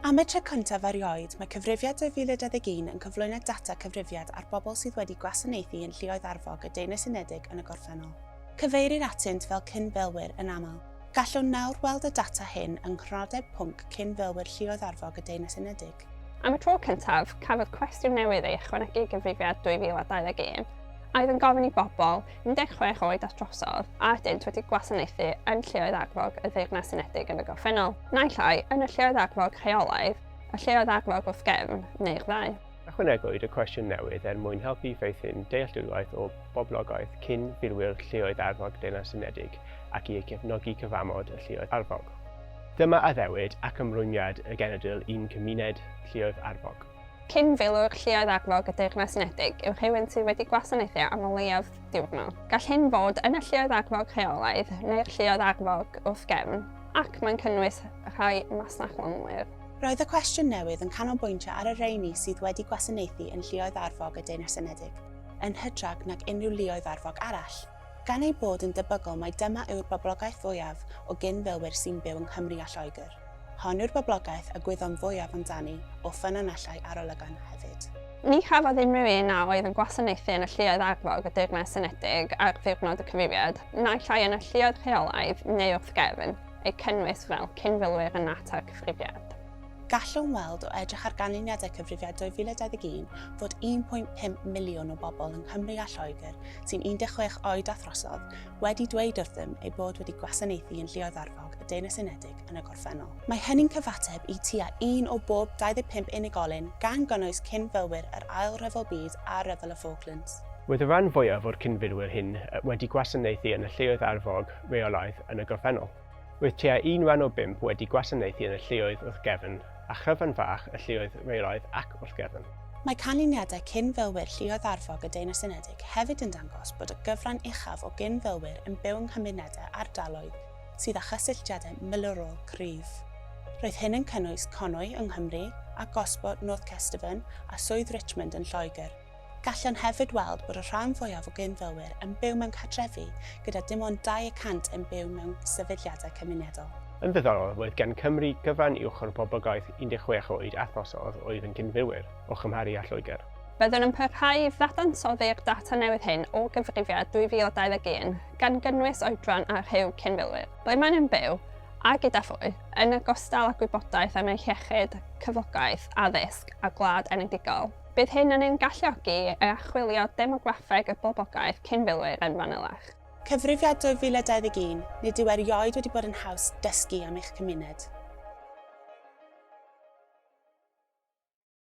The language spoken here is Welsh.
Am y tro cyntaf erioed, mae Cyfrifiad 2021 yn cyflwyno data cyfrifiad ar bobl sydd wedi gwasanaethu yn lluoedd arfog y Deyrnas Unedig yn y gorffennol. Cyfeirir atynt fel cyn-filwyr yn aml. Gallwn nawr weld y data hyn yng Nghronodeb Pwnc Cyn-filwyr Lluoedd Arfog y Deyrnas Unedig. Am y tro cyntaf, cafodd cwestiwn newydd ei ychwanegu i Gyfrifiad 2021, a oedd yn gofyn i bobl 16 oed at drosodd, a ydynt wedi gwasanaethu yn Lleoedd Arfog y Ddeyrnas Unedig yn y gorffennol, naill ai yn y Lleoedd Arfog rheolaidd, y Lleoedd Arfog wrth gefn, neu'r ddau. Ychwanegwyd y cwestiwn newydd er mwyn helpu i feithrin dealltwriaeth o boblogaeth cyn filwyr Lleoedd Arfog Deyrnas Unedig ac i gefnogi cyfamod y Lleoedd Arfog. Dyma addewid ac ymrwymiad y genedl i'n cymuned Lleoedd Arfog. Cyn-filwr Lluoedd Arfog y Deyrnas Unedig yw rhywun sydd wedi gwasanaethu am o leiaf diwrnod. Gall hyn fod yn y Lluoedd Arfog rheolaidd neu'r Lluoedd Arfog wrth gefn, ac mae'n cynnwys rhai masnachlonwyr. Roedd y cwestiwn newydd yn canolbwyntio ar y rheini sydd wedi gwasanaethu yn Lluoedd Arfog y Deyrnas Unedig, yn hytrach nag unrhyw luoedd arfog arall. Gan eu bod yn debygol mai dyma yw'r boblogaeth fwyaf o gyn-filwyr sy'n byw yng Nghymru a Lloegr, hon yw'r boblogaeth a gwyddom fwyaf amdani o ffynonellau arolygon hefyd. Ni chafodd unrhyw un a oedd yn gwasanaethu yn y lluoedd arfog y Deyrnas Unedig ar ddiwrnod y cyfrifiad, naill ai yn y lluoedd rheolaidd neu wrth gefn, eu cynnwys fel cyn-filwyr yn natur y cyfrifiad. Gallwn weld o edrych ar ganlyniadau Cyfrifiad 2021 fod 1.5 miliwn o bobl yng Nghymru a Lloegr sy'n 16 oed a throsodd wedi dweud wrthym eu bod wedi gwasanaethu yn Lluoedd Arfog y Deyrnas Unedig yn y gorffennol. Mae hynny'n cyfateb i tua un o bob 25 unigolyn, gan gynnwys cyn-filwyr yr Ail Ryfel Byd a Rhyfel y Falklands. Roedd y rhan fwyaf o'r cyn-filwyr hyn wedi gwasanaethu yn y Lluoedd Arfog reolaidd yn y gorffennol. Roedd tua un wen o bump wedi gwasanaethu yn y lleoedd wrth gefn, a chryfan fach y lleoedd reilaidd ac wrth gefn. Mae canlyniadau cyn-filwyr lluoedd arfog y Deyrnas Unedig hefyd yn dangos bod y gyfran uchaf o gyn-filwyr yn byw yng nghymunedau ardaloedd sydd â chysylltiadau milwrol cryf. Roedd hyn yn cynnwys Conwy yng Nghymru, a Gosport, North Kesteven, a Swydd Richmond yn Lloegr. Gallwn hefyd weld bod y rhan fwyaf o gyn-filwyr yn byw mewn cartrefi gyda dim ond dau y cant yn byw mewn sefydliadau cymunedol. Yn ddiddorol, roedd gan Cymru gyfran uwch o'r boblogaeth 16 oed a throsodd oedd yn gyn-filwyr, o chymharu â Lloegr. Byddwn yn parhau i ddadansoddi'r data newydd hyn o gyfrifiad 2021, gan gynnwys oedran a rhyw cyn-filwyr, ble maen nhw'n byw, a gyda phwy, yn ogystal â gwybodaeth am eu hiechyd, cyflogaeth, addysg a gwlad enedigol. Bydd hyn yn ein galluogi i archwilio demograffeg y boblogaeth cyn filwyr yn fanylach. Cyfrifiad 2021, Nid yw erioed wedi bod yn haws dysgu am eich cymuned.